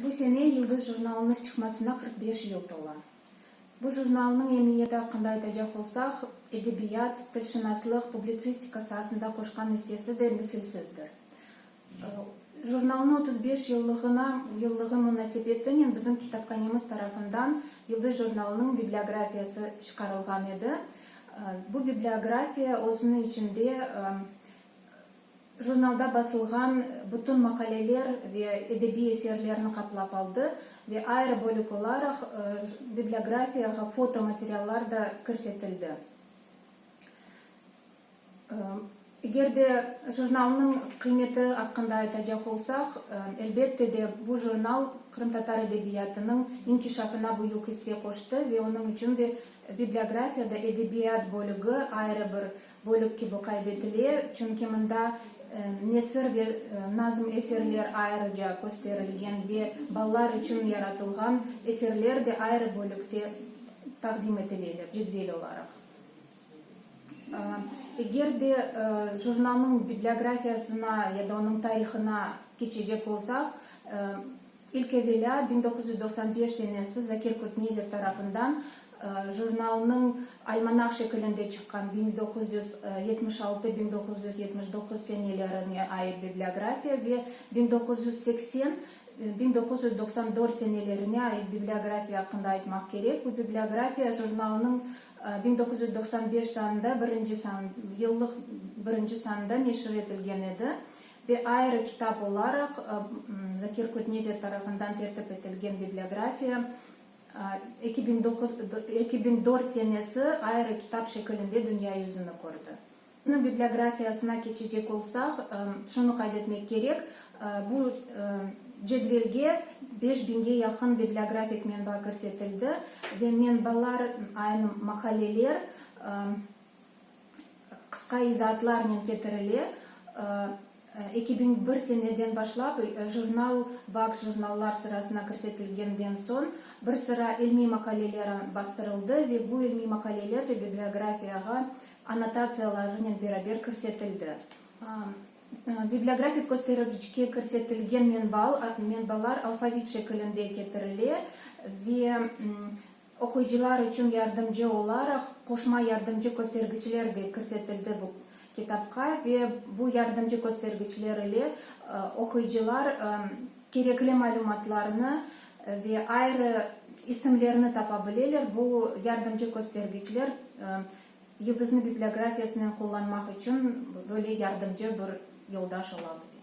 Bu sene Yıldız jurnalınıñ çıqmasına qırq beş yıl tola. Bu jurnalnıñ emiyeti aqqında aytacaq olsaq, edebiyat, tilşınaslıq, publitsistika saasında qoşqan issesi de misilsizdir. Jurnalnıñ otuz beş yıllığına yıllığı munasebetinen bizim kitaphanemiz tarafından Yıldız jurnalınıñ bibliografiyası çıqarılğan edi. Bu bibliografiya özüniñ içinde jurnalda basılğan bütün maqaleler ve edebiy eserlerni qaplap aldı ve ayrı bölük olaraq bibliografiyağa foto materiallar da kirsetildi. Eger de jurnalnıñ qıymeti aqqında aytacaq olsaq, elbette de, bu jurnal qırımtatar edebiyatınıñ inkişafına büyük isse qoştı ve onıñ içün de bibliografiyada edebiyat bölügi ayrı bir Bölük kibi qayd etile, çünki mında nesir ve nazm eserler ayrıca kösterilgen ve balalar içün yaratılğan eserler de ayrı bölükte taqdim etileler, cedvel olaraq. Eger de jurnalnıñ bibliografiyasına ya da onıñ tarihına keçecek olsaq, İlk evelâ biñ doquz yüz doqsan beş senesi Zakir Kurtnezer tarafından jurnalnıñ almanah şekilinde çıqqan biñ doquz yüz yetmiş altı, biñ doquz yüz yetmiş doquz senelerine ait bibliografiya ve biñ doquz yüz seksen, biñ doquz yüz doqsan dört senelerine ait bibliografiya aqqında aytmaq kerek. Bu bibliografiya jurnalnıñ biñ doquz yüz doqsan beş sanında birinci san, yıllıq birinci sanında neşir etilgen edi. Ve ayrı kitap olaraq Zakir Kutnezer tarafından tertip etilgen bibliografiya eki biñ doquz, eki biñ dört senesi ayrı kitap şekilinde dünya yüzüni kördi. Onıñ bibliografiyasına keçecek olsaq, şunı qayd etmek kerek, bu cedvelge beş biñge yaqın bibliografik menba kirsetildi ve menbalar aynı mahalleler, Qısqa izaatlarnen ketirile. Eki biñ bir seneden başlap jurnal Vaks jurnallar sırasına kirsetilgenden soñ bir sıra ilmiy maqaleler bastırıldı ve bu ilmiy maqaleler de bibliografiyağa annotatsiyalarınen beraber kirsetildi. Bibliografik köstericge kirsetilgen menbalar alfavit şekilinde ketirile ve Oquyıcılar içün yardımcı olaraq qoşma yardımcı köstergiçler de kirsetildi bu kitapqa ve bu yardımcı köstergiçler ile oquyıcılar kerekli malümatlarnı ve ayrı isimlerni tapa bileler, bu yardımcı köstergiçler Yıldıznı bibliografiyasınen qullanmaq içün böyle yardımcı bir yoldaş ola bile.